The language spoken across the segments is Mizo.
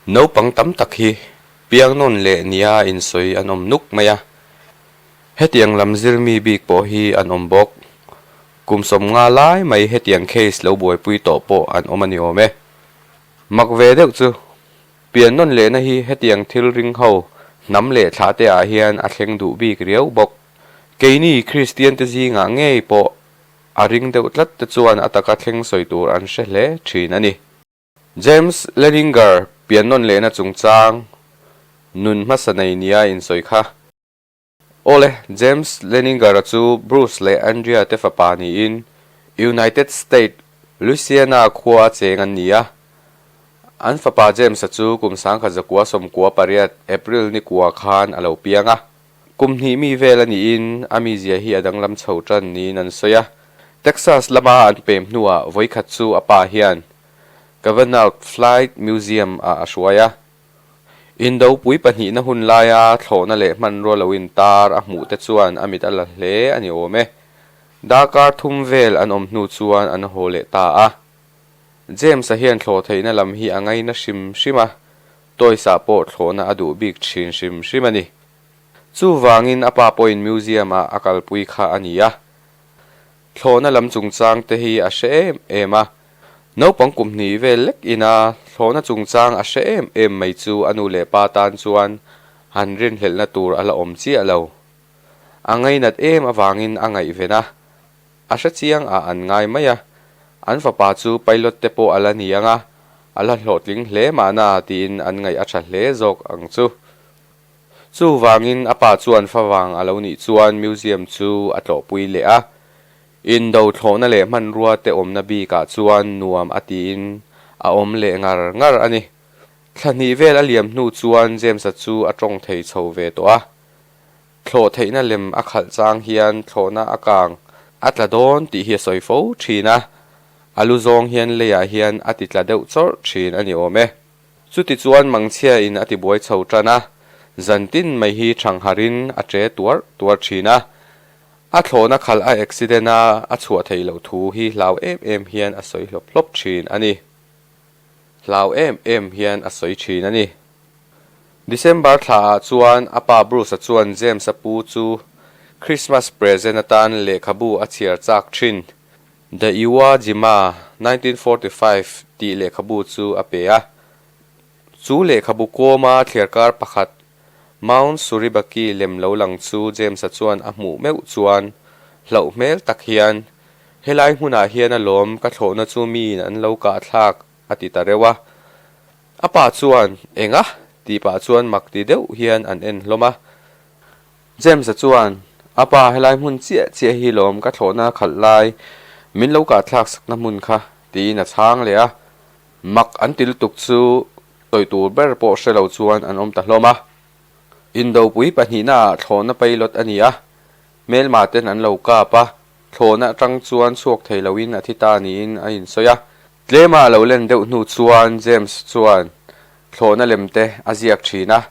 Naupang tam tak hi piangnawn leh nia insawi an awm nuk mai a, hetiang lam zir mi bik pawh hi an awm bawk. Kum sawm nga lai mai hetiang case lo buaipui tawh pawh an awm a ni awm e. Mak ve deuh chu, piannawn lehna hi hetiang thilring ho hnam leh thlah te ah hian a thleng duh bik riau bawk. Keini Kristiante zingah ngei pawh a ring deuh tlatte chuan a taka thleng sawi tur an hre hle thin a ni. James Leninger pian nawn lehna chungchang nun hmasa nei nia insawi kha. Awle, James Leninger-a chu Bruce leh Andrea-te fapa niin United States, Louisiana khua a cheng an ni a. An fapa James-a chu kum sangkhat zakua sawmkua pariat, April nikua, khan a lo piang a. Kum hnih mi vel a niin a mizia hi a danglam chho tan niin an sawi a. Texas lama an pem hnuah vawikhat chu a pa hian Kavanaugh Flight Museum ah a hruai a. Indopui pahnihna hun laia thlawhna leh hmanrua lo intar a hmuh te chuan a mit a la hle a ni awm e. Dar kar thum vel an awm hnu chuan an haw leh ta a. James-a hian thlawh theihna lam hi a ngaina hrim hrim a. Toys ah pawh thlawhna a duh bik thin hrim hrim a ni. Chuvangin a pa pawhin museum ah a kalpui kha a ni a. Thlawhna lam chungchang te hi a hre em em a. Naupang kum hnih vel lek ina thlawhna chungchang a hre em em mai chu a nu leh pa tan chuan han rinhlelhna tur a la awm chiah lo. A ngainat em avangin a ngaihven a, A hre chiang a an ngai mai a, an fapa chu pilot te pawh a la ni anga a la hlawhtling hle mahna tiin an ngaih a tha hle zawk ang chu. Chuvangin a pa chuan fa vang a lo nih chuan museum chu a tlawhpui leh a, in do thlawhna leh hmanrua te awmna bikah chuan nuam a tiin a awm leh ngar ngar a ni. Thla hnih vel a liam hnu chuan James-a chu a tawng thei chho ve tawh a. Thlawh theihna lem a khalh chang hian thlawhna a kang a tla dawn tih hi a sawi fo thin a, a lu zawng hian leiah hian a ti tla deuh chawrh thin a ni awm e. Chuti chuan Mangchhia in a ti buai chho tan a, zan tin mai hi thangharh in a che tuar tuar thin a, a thlawhna khal a accident a a chhuah theih loh thu hi hlau em em hian a sawi hlawp hlawp thin a ni. hlau em em hian a sawi thin a ni. December thla ah chuan a pa Bruce-a chuan James-a pu chu Christmas present atan lehkhabu a chhiar chak thin. The Iwo Jima, nineteen forty five tih lehkhabu chu a pe a. Chu lehkhabu kawma thliarkar pakhat Mount Suribaki lem lo lang chu James-a chuan a hmuh meuh chuan hlauh hmel tak hian, Helai hmunah hian a lawm, ka thlawhna chu miin an lo kahthlak, a ti ta reuh a. A pa chuan, Enga? tih pah chuan mak ti deuh hian an en hlawm a. James-a chuan, A pa, helai hmun chiah chiah hi lawm, ka thlawhna khalh lai, min lo kahthlak sakna hmun kha, tiin a chhang leh a. Mak an ti lutuk chu Sawi tur ber pawh hre lo chuan an awm ta hlawm a. Indopui pahnihnaah thlawhna pailawt a ni a, Hmelmaten an lo kap a, thlawhna atang chuan chhuak thei loin a thi ta niin a insawi a. Tlema a lo len deuh hnu chuan James chuan thlawhna lem te a ziak thin a.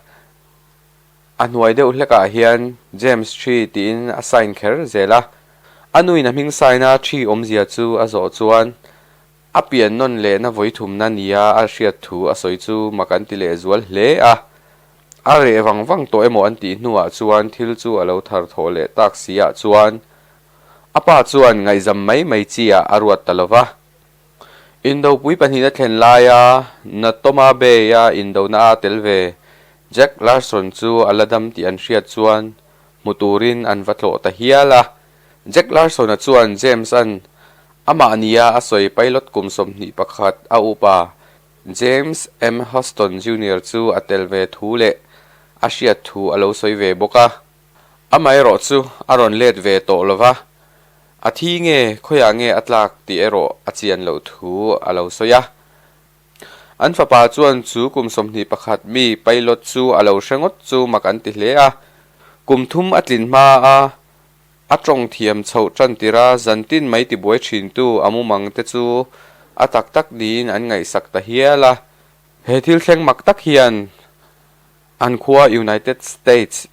A hnuai deuh hlekah hian James thi tiin a sign kher zel a. A nuin a hming sign a thi awmzia chu a zawh chuan A pian nawn lehna vawi thumna nia a hriat thu a sawi chu mak an ti leh zual hle a. A reh vang vang tawh emaw an tih hnuah chuan thil chu a lo thar thawh leh tak si ah chuan a pa chuan ngaihzam mai mai chiah a ruat ta lo va. Indopui pahnih na thlen laia na Toma Bay a indona a tel ve Jack Larson chu a la dam tih an hriat chuan hmu turin an va tlawh ta hial a. Jack Larson-a chuan James-a'n amah nia a sawi pilot kum sawmhnih pakhat a upa James M. Huston Junior chu a tel ve thu leh a hriat thu a lo sawi ve bawk a, amaherawh chu a rawn let ve tawh lo va, a thi nge, khawiah nge a tlak tih erawh a chian loh thu a lo sawi a. An fapa chuan chu kum sawmhnih pakhat mi Pailot chu a lo hre ngawt chu mak an ti hle a, kum thum a tlin hma a, a tawng thiam chhoh tan tir a, zan tin mai ti buai thintu a mumang te chu a tak tak niin an ngaihsak ta hial a. He thil thleng mak tak hian an khua United States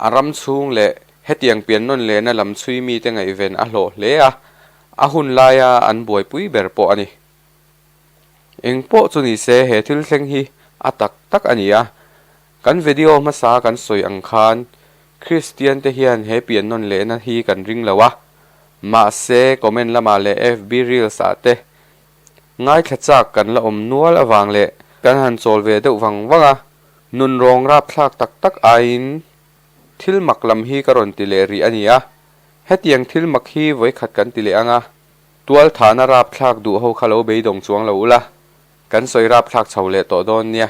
a ram chhung leh hetiang pian nawn lehna lam chhui mite ngaihven a hlawh hle a, a hun laia an buaipui ber pawh a ni. Eng pawh chu ni se, he thil thleng hi a tak tak a nia. Kan vedio hmasa kan sawi ang khan Kristian te hian he pian nawn lehna hi kan ring lo a, mahse comment lamah leh FB Reels ah te ngaithla chak kan la awm nual avang leh kan han chawl ve deuh vang vang a, nun rawng rapthlak tak tak aiin thil mak lam hi ka rawn ti leh rih a nia. Hetiang thil mak hi vawikhat kan ti leh ang a, Tualthahna rapthlak duh ho kha lo beidawng chuang lo ula, kan sawi rapthlak chho leh tawh dawn nia.